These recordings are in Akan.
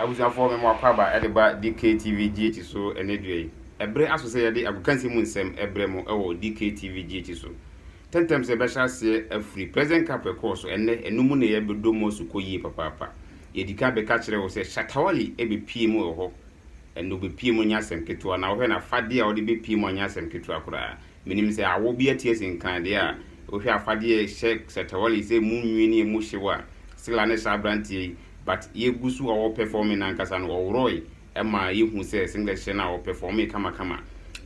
abusuafoɔ mema wakɔ aba de ba DKTV GH so ɛnɛ dua yi. Ɛbere aso sɛ yɛde agokansi mu nsɛm ɛbrɛ mo ɛwɔ DKTV GH so. Tɛntɛm sɛ ɛbɛhyɛ aseɛ afiri President Cup ɛkɔɔ so ɛnɛ ɛno mu na yɛbɛdɔ mu asu kɔ yie papaapa. Yɛdikan bɛka kyerɛ wo sɛ Shatta Wali ɛbɛpie mu wɔ hɔ. Ɛnɛ ɔbɛpie mu nyɛ asɛm ketewa na wohwɛ no afadeɛ a ɔde bɛpie mu anyɛ asɛm ketewa koraa. Menim sɛ awɔ bi atie sen kan deɛ a wohwɛ afadeɛ a ɛhyɛ Sɛtɛwale sɛ emu nwi ne emu hyew a Sila ne saa abranteɛ yi but yɛgu so ɔwɔ pɛfɔme no ankasa no ɔworɔe ɛma yɛhu sɛ singlet hyɛ no a ɔpɛfɔmee kamakama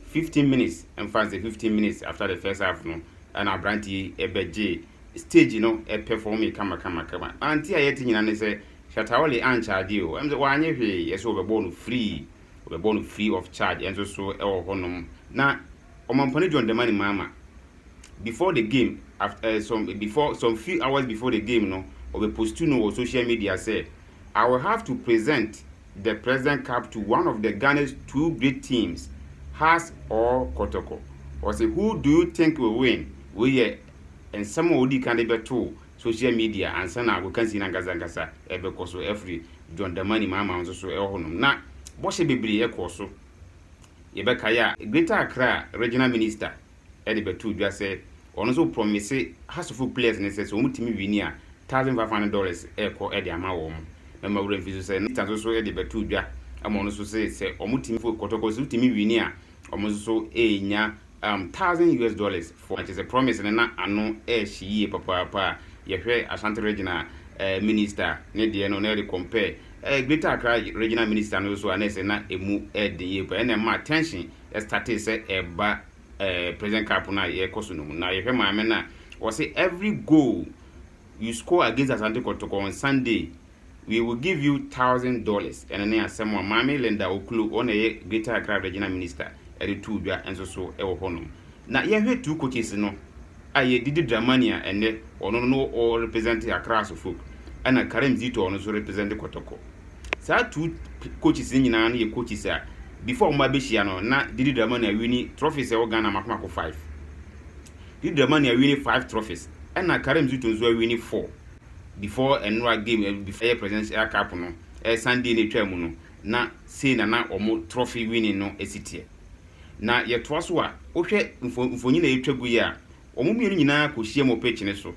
fifteen minutes mfa nsɛ fifteen minutes after the first half no ɛna abranteɛ yi ɛbɛgye stage no ɛpɛfɔmee kamakamakama ante a yɛte nyina ne sɛ Shatawale ancharge o ɛm sɛ wanyɛ hwee yɛse wɔbɛbɔɔ no free Wɔbɛbɔ no free of charge nso so wɔ hɔnom. Na Ɔmampɔne John Dramani Mahama, before the game, aft eh, some, before, some few hours before the game no, ɔbɛpostu no wɔ social media sɛ, I will have to present the President Cup to one of the Ghana's two great teams, Hearts or Kotoko. Ɔse, who do you think will win? Wei yɛ nsɛm a ɔdii kan de bɛtoo social media ansa na wɔkansi no ankasa ankasa ɛbɛkɔ so afiri John Dramani Mahama nso so ɛwɔ hɔnom na bɔhyɛ bebree ɛkɔɔ so yɛbɛkae a Greater Accra Regional Minister ɛde bɛtoo dwa sɛ ɔno nso prɔmise Hasofo players no sɛ sɛ wɔn tumi wini a thousand five hundred dollars ɛkɔ ɛde ama wɔn mɛma wura mfi so sɛ Minister nso so ɛde bɛtoo dwa ama ɔno nso sɛ sɛ wɔn tumi fo kɔtɔkɔ sɛ wotumi wini a wɔn nso so ɛnya um thousand US dollars for na kyesɛ promise no na ano ɛɛhye yie papaapa a yɛhwɛ Ashanti regional uh minister ne deɛ no na yɛde compare uh greater Accra regional minister no so a na ɛsɛ na ɛmu ɛɛden yie paa ɛna ɛmaa tension ɛstartee sɛ ɛɛba uh president cup no a yɛɛkɔ so no mu na yɛhwɛ maame no a ɔse every goal you score against Asante Kotoko on Sunday We will give you thousand dollars ɛno ne asɛm a Maame Linda Oklo, ɔna ɛyɛ Greater Accra Regional Minister, ɛde too dwa nso so wɔ hɔnom. Na yɛhwɛ Two Coaches no a yɛ Didi Dramani a ɛnnɛ ɔno no no ɔ represent Accra Asofolk ɛna Karim Zito a ɔno nso represent Kɔtɔkɔ. Saa two coaches no nyinaa no yɛ coaches a before wɔn abɛhyia no na Didi Dramani awini trophies ɛwɔ Ghana mako mako five. Didi Dramani awini five trophies ɛna Karim Zito nso awini four. before ɛnoa game ɛɛ before ɛyɛ presidents ɛyɛ cup no ɛɛ sunday na etwaa mu no na sei na na wɔn trophy winning no esi teɛ na yɛ toa so a wohwɛ mfo mfonyin a etwa gu yi a wɔn mmienu nyinaa kɔ hyia mu wɔ pitch ne so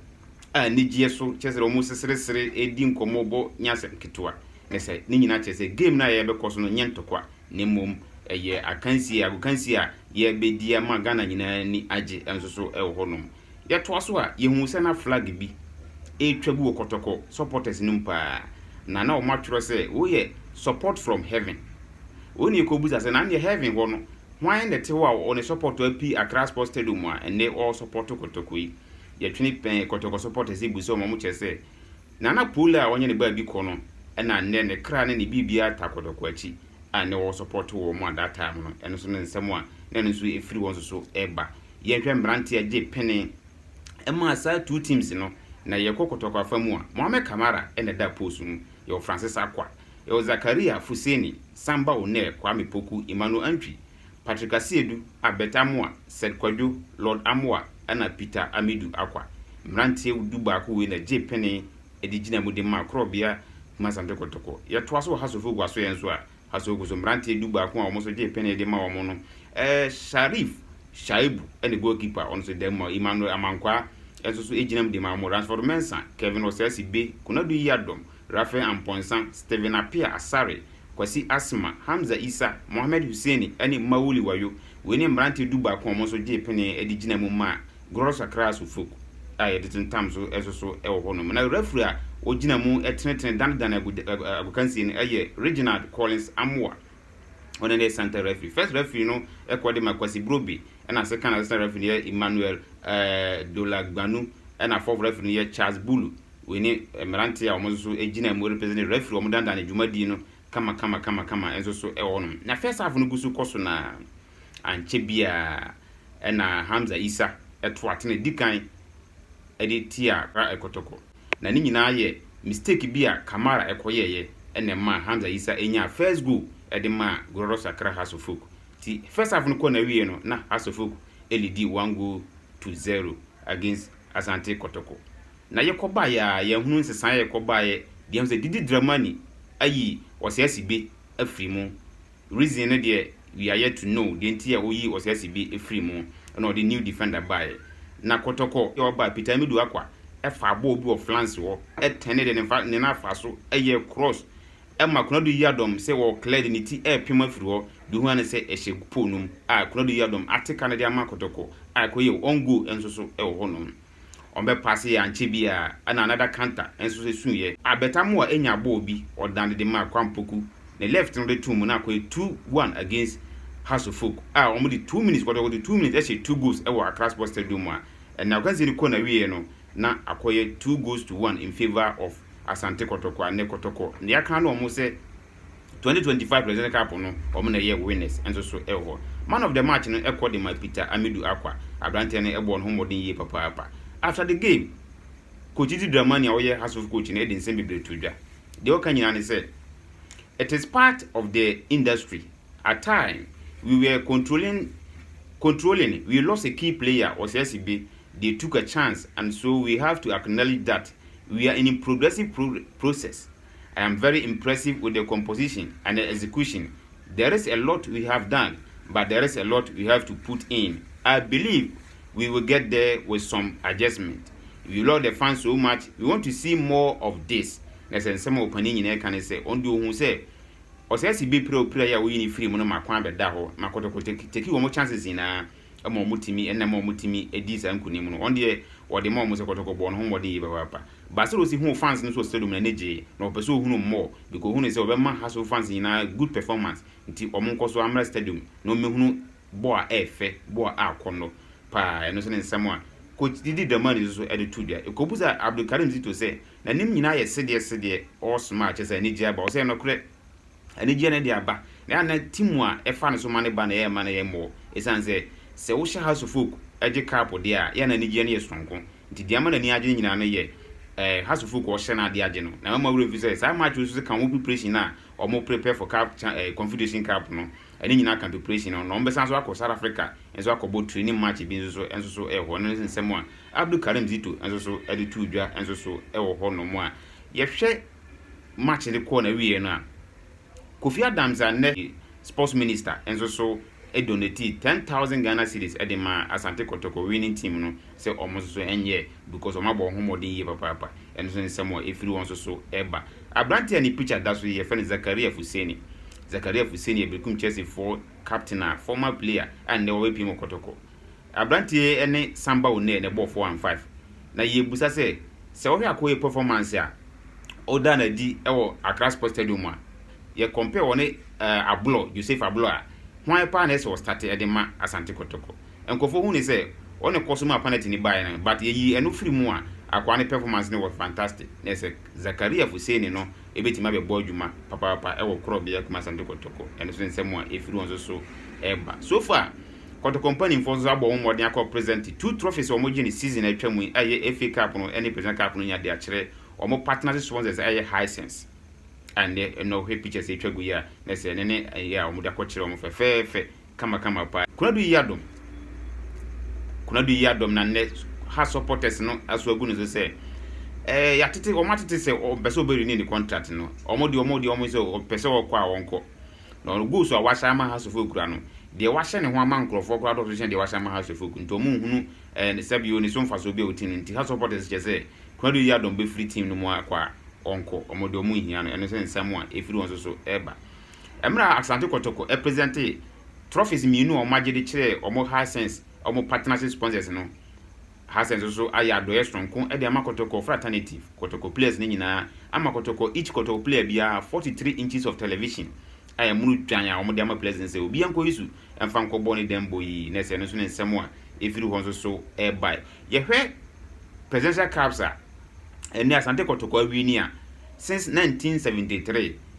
a anigyeɛ so kyerɛ sɛ wɔn seseresere edi nkɔmɔ bɔ nyɛ asɛm ketewa na sɛ ne nyinaa kyerɛ sɛ game no a yɛbɛkɔ so no nyɛ ntɔkwa na mmom ɛyɛ akansie agokansie a yɛbɛdi ama ghana nyinaa ni agye nso so ɛwɔ hɔ nom. Yɛtoa so a, yɛhuu sɛ na flag bi retwa gu wɔ Kɔtɔkɔ supporters no mu paa, na na wɔatwerɛ sɛ, Woyɛ support from heaven. Wei na yɛkɔbisa sɛ, na nneɛ heaven hɔ no, hwan na ɛte hɔ a ɔne support api Accra Sports Stadium a ɛnnɛ ɔresupport Kɔtɔkɔ yi? Yɛtwene pɛn Kɔtɔkɔ supporters bu sɛ wɔn a wɔkyerɛ sɛ, Nana Pole a ɔnyɛ ne baabi kɔ no na nnɛ ne kra ne ne biribiara ta Kɔtɔkɔ akyi a nnɛ ɔresupport wɔn a that time no. Ɛno nso ne nsɛm a na ɛno nso ɛfiri wɔn nso so reba. Yɛnhwɛ mmerante a gye pene ɛmaa saa two teams no na yɛkɔ kɔtɔkɔ afa mu a, Mohamed Kamara na ɛda post mu, yɛwɔ Francis Acquah, yɛwɔ Zakaria Fuseni, Samba Onair, Kwame Poku, Emmanuel Antwi, Patrick Asiedu, Abert Amoah, Sed Kwadwo, Lord Amoah ɛna Peter Amidu Acquah. Mmeranteɛ du baako wei na gye pene de gyina mu de maa Korɔbea Kumasi Asante Kotoko. Yɛtoa so wɔ House of Oguasoɛ nso a, Asogo so mmeranteɛ du baako a wɔn nso gyee penee de ma wɔn no, eh, Sharif Shaibu ne goalkeeper ɔno nso da mu a Emmanuel Amankwaa nso so gyina mu de ma wɔn, Ransford Mensah, Kevin Osasi Be, Konadu Yiadom, Raphael Amponsah, Stephen Appiah Asare, Kwasi Asma, Hamza Issa, Mohammed Hussaini ne Mawuli Wayo. Wei ne mmeranteɛ du baako a wɔn nso gyee penee de gyina mu maa Gros sakraa so folk a yɛde tentam so soso wɔ hɔnom, na refri a ogyina mu tenetene danedane agokansie no yɛ Reginald Collins Amoah, ɔno ne center refri. First refri no kɔ de ma Kwasi Brobbey, ɛna second assistant refri no yɛ Emmanuel Dolagbanu, ɛna fourth refri no yɛ Charles Bulu. Wei ne mmerante a wɔn nso so gyina mu represent refri a wɔdanedane dwumadie no kamakama kamakama nso so wɔ hɔnom. Na first half no gu so kɔ so no ara, ankyɛ biara, ɛna Hamza Isa to aten a ɛdi kan de tia Kra Kotoko. Na ne nyinaa yɛ mistake bi a Kamara kɔ yɛeɛ ɛna ɛmaa Hamza Isa nyaa first goal de maa Glorious Accra Hearts of Folk. Nti first half no kɔɔ n'awieɛ no na Hearts of Folk lidi one goal to zero against Asante Kotoko. Na yɛkɔ baeɛ a yɛahunu nsesaeɛ a ɛkɔ baeɛ de ahu sɛ Didi Dramani ayi Ɔsɛasibe afiri mu. Reason no deɛ we are yet to know deɛ nti a ɔyii Ɔsiasi bi firii mu ɛna ɔde new defender baeɛ. Na Kɔtɔkɔ deɛ ɔbaa Peter Amidu Akwa faa bɔɔl bi wɔ flanse hɔ tɛnee deɛ ne ne nan afaa so yɛɛ cross ma Konadu Yiadom sɛ ɔɔ clear de ne ti repem afiri hɔ deɛ ohua ne sɛ ɛhyɛ pole no mu a Konadu Yiadom ate ka no de ama Kɔtɔkɔ a ɛkɔyɛɛ own goal nso so wɔ hɔnom. Ɔmbɛpaase yɛ ankyɛ biara na another canter nso so suiɛ. Albert Amoah enya ball bi ɔdane de maa Kwame Poku, ne left no de too mu na akɔyɛ two, one against Hasofolk a wɔn de two minutes, kɔtɔkɔtɔ two minutes ɛhyɛ two goals ɛwɔ Accra Sports Stadium mu a ɛnna ɔkansi de kɔ n'awieɛ no na akɔyɛ two goals to one in favour of Asante Kɔtɔkɔ anɛ Kɔtɔkɔ na yɛaka no wɔn sɛ twenty twenty five Presidential Cup no wɔn na ɛyɛ winners nso so wɔ hɔ. Man of the match no kɔ de ma Peter Amidu Akwa. Aberanteɛ no bɔɔ ne ho mmɔden yie papaapa. After the game, Coach Didi Dramani a ɔyɛ Hearts of coach no de nsɛm bebree too dwa. Deɛ ɔka nyinaa ne sɛ, It is part of the industry. At time, we were controlling controlling, we lost a key player, Ɔsɛɛse Be, they took a chance and so we have to acknowledge that we are in progressive pro process. I am very impressive with the composition and the execution there is a lot we have done but there is a lot we have to put in I believe we will get there with some adjustment we love the fans so much we want to see more of this na sɛ nsɛm a ɔpanin nyinaa ka ne sɛ ɔno deɛ ɔhu sɛ ɔsɛ si bi pira opira yi a woyi ne firi mu no ma kwan bɛda hɔ ma kɔtɔkɔtɔ teki wɔn chances nyinaa ma wɔn tumi ɛna ɛma wɔn tumi ɛdi saa nkunim no wɔn deɛ wɔde ma wɔn sɛ kɔtɔkɔ bɔɔ no ho mmɔden yie papaapa baasa rosi huu fans no so wɔ stadium na ne gyee na ɔpɛ sɛ ohunu mmɔɔ biko ohunu sɛ ɔbɛma haso fans nyinaa good performance nti wɔn nkɔ so amra stadium na wɔn mehunu bɔɔ a ɛɛfɛ bɔɔ a akɔnnɔ paa ɛno nso ne nsɛm a coach didi dramani nso so ɛde to dwa ekobu sɛ abdulkarim zito sɛ n'anim nyinaa yɛ sedeɛ sedeɛ all smile kyɛ sɛ anigye aba ɔsɛ ɛnokorɛ anigyeɛ no de aba na na timu a ɛfa no so ma no ba na ɛrema no yɛ mmerɛw ɛsiane sɛ sɛ wohyɛ Hearts of Oak gye kaapo deɛ a yɛ na anigyeɛ no yɛ sononko nti deɛ ama n'ani agye no nyinaa no yɛ eh, Hearts of Oak a ɔhyɛ no adeɛ agye no na mɛma werɛ mfi sɛ saa match no so ka wɔn preparation no a wɔn prepare for cup, eh, Confederation Cup no ɛne nyinaa ka preparation no na wɔbɛsan so akɔ South Africa nso akɔbɔ training match bi nso so nso so ɛwɔ hɔ no nsɛm a Abdul Karim Zito nso so de too dwa nso so ɛwɔ hɔ nom a yɛhwɛ match no kɔɔ n'awieɛ no a, Kofi Adams a nnɛ yɛ Sports Minister nso so donatee ten thousand Ghana cedis de maa Asante Kotoko winning team no sɛ wɔn nso so nyɛ because wɔn abɔ wɔn ho mmɔden yie papaapa. Ɛno nso nsɛm a ɛfiri wɔn nso so ba. Aberanteɛ a ne picture da so yi, yɛfrɛ no Zakaria Fuseni. Zakaria Fuseni yɛ Berekum Chelsea foɔ captain a former player a nnɛ wabɛpiem wɔ Kotoko. Aberanteɛ yi ne Samba Onee na ɛbɔɔ four and five, na yɛrebisa sɛ, sɛ wohwɛ Akoye performance a ɔdaa no adi wɔ Accra Sports Stadium mu a, yɛ compare ɔne Abloh, Joseph Abloh a, hwan paa na ɛsɛ sɛ ɔstarte de ma Asante Kotoko? Nkurɔfoɔ hu no sɛ ɔna kɔ so maa penalty no baeɛ no, but yɛyi ɛno firi mu a, akwaa no performance no was fantastic, na ɛsɛ Zakaria Fuseni no bɛtumi abɛbɔ adwuma papaapa wɔ korɔbea kumaa Asante Kotoko, ɛno nso nsɛm a ɛfiri wɔn nso so reba so far. Kotoko mpanimfoɔ nso abɔ wɔn mmɔden akɔ present two trophies a wɔgye no season a atwam yi a ɛyɛ FA Cup no ne Presidential Cup no nya de akyerɛ wɔn partners sponsors a ɛyɛ Hisense a nnɛ ɛnnɛ wohwɛ pictures a atwa gu yi a na sɛ ɛno ne ɛyɛ a wɔde akɔkyerɛ wɔn fɛfɛɛfɛ kamakama paa. Konadu Yiadom Konadu Yiadom na nnɛ Hearts supporters no aso agu ne so sɛ ɛɛ yɛatete wɔn atete sɛ ɔmpɛ sɛ ɔbɛ renew ne contract no wɔn deɛ wɔn deɛ wɔn sɛ ɔpɛ sɛ ɔkɔ a ɔnkɔ Na ɔno goals a wasan ama Hearts of Oak kura no, deɛ wahyɛ ne ho ama nkorɔfoɔ koraa dɔɔso kyɛn deɛ wahyɛ ama Hearts of Oak, nti wɔn nhunu ɛɛ ne sɛbi oo ne so mfasoɔ biara wɔ team no mu, nti Hearts of supporters kyerɛ sɛ Konadu Yiadom bɛfiri team no mu akɔ a, ɔnkɔ, wɔn deɛ wɔn nhia no, ɛno sɛ nsɛm a ɛfiri wɔn nso so ɛɛba. Ɛmerɛ a Asante Kɔtɔkɔ ɛpresɛntee trophies mmienu a wɔn agye de kyerɛɛ wɔn Hisense wɔn partnership sponsors no, Hassens nso ayɛ adɔeɛ sononko de ama kɔtɔkɔ fraternity kɔtɔkɔ players no nyinaa ama kɔtɔkɔ each kɔtɔkɔ player biara 43 inches of television a ɛmono dwan a wɔde ama players no sɛ obiara nkɔyi so mfa nkɔbɔ ne dɛmbɔ yi na ɛsɛ ɛno nso ne nsɛm a ɛfiri hɔ nso so ɛrebae. Yɛhwɛ presidential cups a ɛnɛ Asante kɔtɔkɔ awie ni a since 1973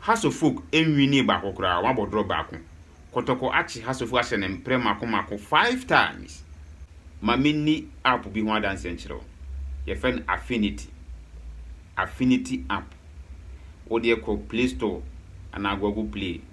Hasselfok nnwinii baako koraa, wɔabɔ drɔ baako. Kɔtɔkɔ akye Hasselfok ahyɛ no mprɛ mako mako five times. Ma menni app bi ho adanseɛ nkyerɛ wo. Yɛfrɛ no Affinity. Affinity app. Wodeɛ kɔ Play Store anaa Google Play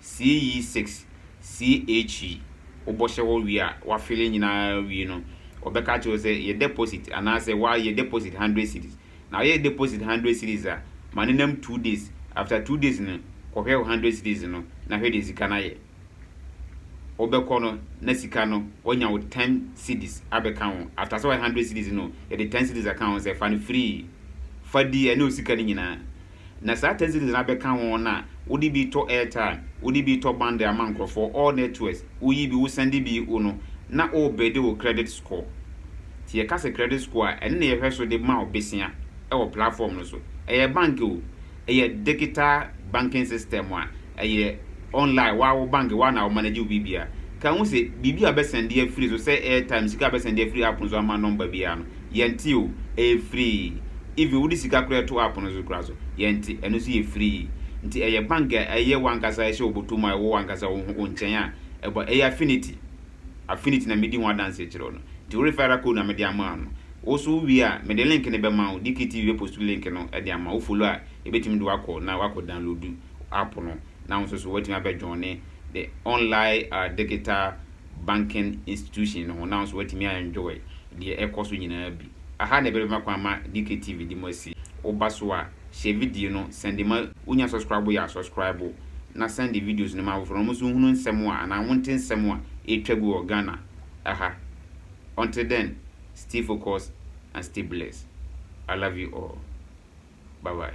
CE six CHE wobɔhyɛ hɔ wie a wafele nyinaa wie no wɔbɛka akyerɛ wo sɛ yɛ deposit anaasɛ wa yɛ deposit hundred cedis na woyɛ deposit hundred cedis a ma no nam two days after two days no kɔhwɛ wo hundred cedis no na hwɛ deɛ sika no ayɛ wobɛkɔ no na sika no wanya wo ten cedis abɛka ho after sɛ wayɛ hundred cedis no yɛde ten cedis aka ho sɛ fa no free fa di ɛne wo sika no nyinaa Na saa taxi no de no abɛka ho na wode bi tɔ airtime, wode bi tɔ bundle ama nkurɔfoɔ, all networks, woyi bi, wosɛnde bi, wo no, na worebɛde wo credit score. Nti yɛka sɛ credit score a, ɛno na yɛhwɛ so de ma wo besea wɔ platform no so. Ɛyɛ bank o, ɛyɛ digital banking system a ɛyɛ online, woa wo bank, woa na wo manage wo biribiara. Ka hu sɛ biribi a wobɛsɛnde afiri so, sɛ airtime, sika a wobɛsɛnde afiri app no so ama number biara no, Yɛnte o, ɛyɛ free. Even wode sika koraa to app no so koraa so, yɛnte, ɛno nso yɛ free. Nti ɛyɛ bank a ɛyɛ w'ankasa ɛhyɛ wo bɔtɔ mu a ɛwɔ w'ankasa wo ho wo nkyɛn a ɛbɔ, ɛyɛ Affinity. Affinity na medi ho adanseɛ kyerɛ wo no. Nti wo referral code na mede ama wo no. Wo nso wo wie a, mede link no bɛma wo, DKTV bɛpost link no de ama wo, wo follow a ɛbɛtumi de wo akɔ na woakɔ download app no na wo nso so woatumi abɛ joine the online digital banking institution no ho na wo nso woatumi a enjoy deɛ ɛkɔ so nyinaa bi. Aha na ɛbɛma kwan ma DKTV de mo asi. Woba so a, share video no, sɛnde ma wonya subscribe yɛ a subscribe na sɛnde videos no ma afoforɔ na wɔn nso nhunu nsɛm a anaa wonte nsɛm a ɛretwa gu wɔ Ghana aha. Until then, stay focused and stay blessed. I love you all. Bye bye.